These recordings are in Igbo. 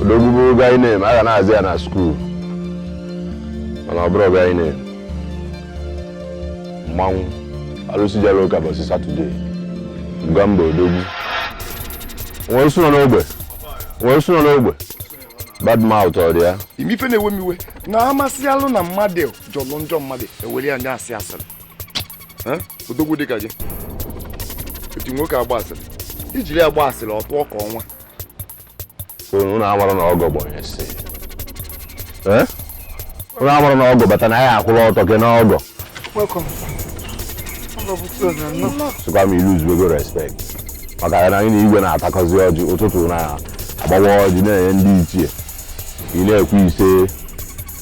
odogwu bụ guy name a ga na-azị ya na skuul mana ọ bụrọ guy name mmanwụ alụsị jelu ụka ụbọsị satọdee mugambo odogwu nwere sụnọ n'ogbe nwere sụnọ n'ogbe bad mouth ọ dị ya ị ma ife na-ewe m iwe na amasị alụ na mmadụ jọlụ njọ mmadụ ewere ya na-asị asịrị odogwu dịka gị etu nwoke agba asịrị ijiri agba asịrị ọ tụọ ka ọnwa unu amara na ọgọ bụ onye isi unu amara na ọgọ bata na ya akwụla ọtọ gị n'ọgọ sịkwa m i luzuwego respect maka ya na anyị na igwe na-atakọzi ọjị ụtụtụ na agbawa ọjị na-enye ndị ichie ị na-ekwu ise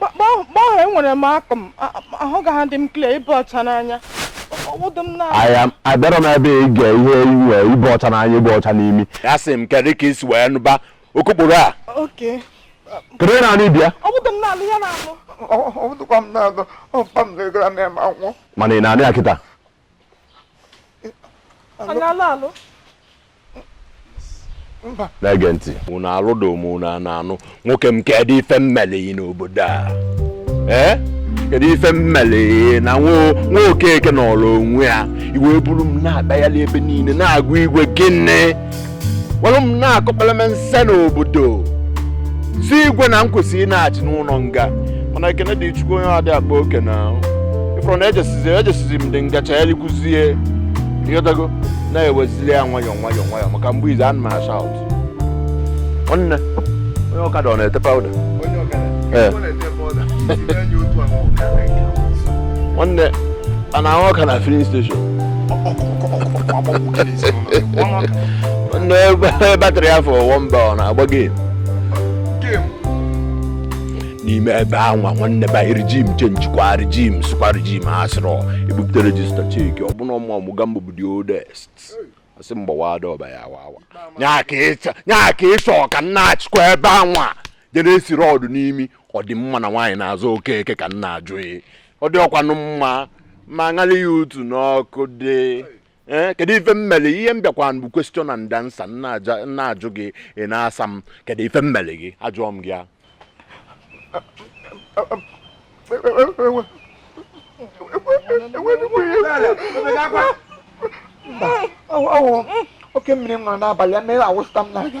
gbaghara enwere m akụ m ahụ ga ha dị m clear ịbụ ọcha n'anya abịara m ebe ị ga ihe inwe ịbụ ọcha n'anya ịbụ ọcha n'imi ya sị m kedu ka i si wee nụba okokporo a kedu na anụ bịa mana ị na-anụ ya kịta na-ege ntị unu alụdo m unu a na-anụ nwoke m kedụ ife m mele gị n'obodo a ee kedu ife m mele gị na nwa okeke nọrọ onwe ya i wee buru m na-akpagharị ebe niile na-agwa igwe gịnị were m na-akọkpere m nse n'obodo sị igwe na m kwesịrị ịna-achị n'ụlọ nga mana ekene dị chukwu onye adị akpa oke na ịfụrụ na ejesizi m dị ngacha elikwuzie ịghọtago na-ewezili ya nwayọọ maka mgbe izu ana m a-shout nwanne onye ọkada ọ na-ete powder Ee. onye a na-ahụ ọka na filling station onye battery afọ one bar ọ na-agba game n'ime ebe anwa nwanne ba regime change kwa regime sụkwa regime asịrọ ebupụta register check ọ bụ na mugambo bụ the oldest asị m gbawaa door ba ya wawa nya ka ịchọ ka m na-achịkwa ebe anwa jere esi road n'imi ọ dị mma na nwaanyị na-azụ okeke ka m na-ajụ gị ọ dịkwanụ mma ma ṅara ya utu n'ọkụ dị ee eh, kedu ife m mele ihe m bịakwa bụ question and answer m na-ajụ gị ị na-asa m kedu ife m mele gị ajụọ m gị ya oke mmiri m nọ n'abalị ya mere awụsịta m n'anya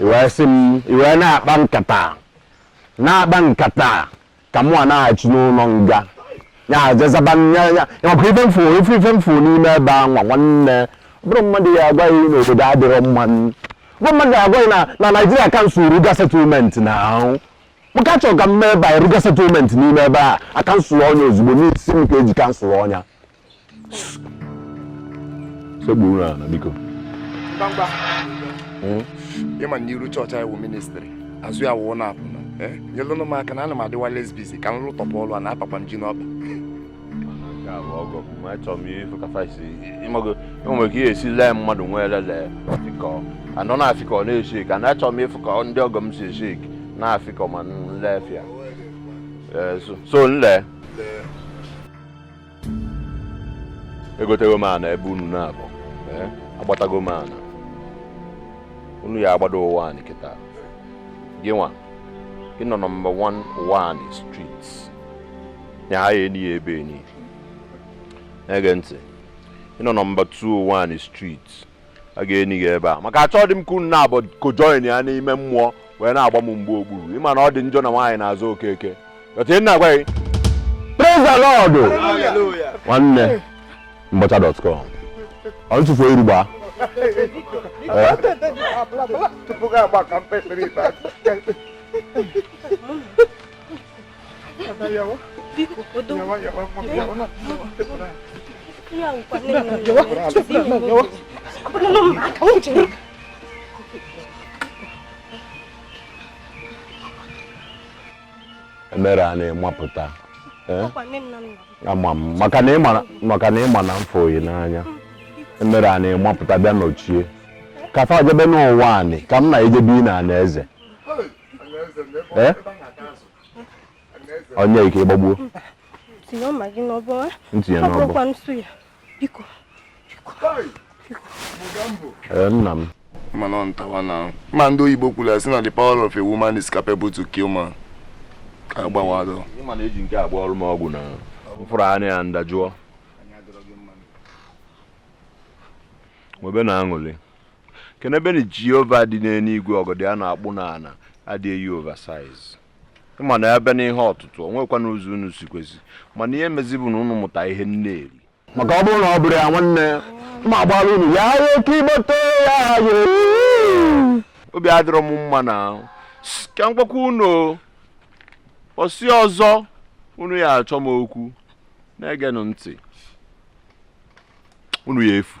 i wee sị m i wee na-akpa nkata na-akpa nkata ka mụwa na-achị n'ụnọ nga ya jezaba ya ya maka ife m fụ ife ife m fụ n'ime ebe a nwa nwanne ọ bụrụ mmadụ ya agwa gị na obodo adịrọ mma ọ bụrụ mmadụ ya agwa gị na na naijiria kansụl ruga settlement na ahụ maka achọrọ ka m mee ebe a ruga settlement n'ime ebe a akansụlụọ nya ozugbo n'isi m ka eji kansụlụọ nya sekpuru ala biko mgbamgba hmm? ịma na iru chọọchị anyị wụ ministrị azụ ya wụọ na-apụ eh? nyelụnụ m aka na ana m adịwa less busy ka m lụtọpụ ọlụ a na-apakwa m ji n'ọba enwere ike ihe esi lee mmadụ nwee lele ka anọ na-afị ka ọ na-esi ka na achọrọ m ịfụ ka ndị ọgọ m si esi na-afị ka ma nlefịa eh, so nle egotego m ana ebe unu naabọ eh, agbatago m ana unu ya agbado ụwa anị kịta gị nwa gị nọ nọmba 1 ụwa anị street ya a ya-eni gị ebe nị na-ege ntị ị nọ nọmba 2 ụwa anị street a ga-eni gị ebe a maka achọdị m ka unu naabọ kojoin ya n'ime mmụọ wee na-agba m mgba okpuru ịma na ọ dị njọ na nwaanyị na-azụ okeke ọtụ ị na-agwa gị praise the lord nwanne mbọcha.com ọ ntụfu iru gbaa Eh? tupu gị agba ka m kpesịrị ikpe emere a na-emapụta eh? ama m maka na ịma na m fụ gị n'anya emere a na-emapụta bịa nọchie ka fa jebe n'ụwa anị ka m na-ejebe n'anị eze eh? onye ike ịgbagbuo tinye mma gị n'ọbọ eh? ntinye n'ọbọ nsu ya biko eh, nna m mana ọ ntawa na ma ndị oyibo kwuru ya si na the power of a woman is capable to kill man agbawadọ ịma na eji nke a gwọọrụ m ọgwụ na m fụrụ anya ya m dajụọ nwebe na aṅụlị kenebeni jehova dị n'enuigwe ọgọdọ a na-akpụ n'ana adị eyi oversize ịma na a bịa n'ihe ọtụtụ o nwekwa na ụzọ unu si kwesi mana ihe mezi bụ na unu mụta ihe nne eri maka ọ bụrụ na ọ bụrụ ya nwanne ma agbara unu ya ya oke igbete ya ya obi adịrọ m mma na S- ka m gwakwa unu o. ọsị ọzọ unu ya achọ m okwu na-egenụ ntị unu ya efu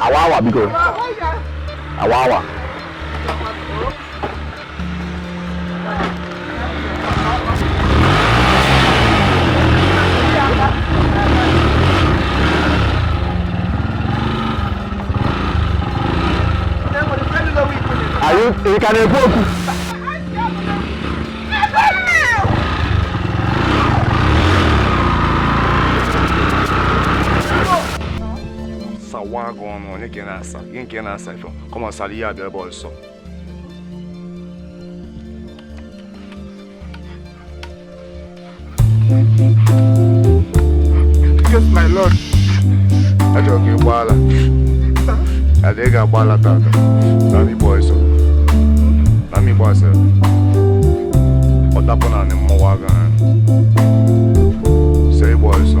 awa awa biko awa awa Aí, ele cadê pouco? sawa gị ọnụ onye ka ị na-asa gị nke ị na-asa ife kọma sara ihe abịa ebe ọsọ Yes, my lord. Achọrọ ka ị gbaala. Ada ị ga-agbaala tata. Na m ịgba ọsọ. Na m ịgba ọsọ. Ọ dapụ na anị mmụọ aga ha. Sị gbaa ọsọ.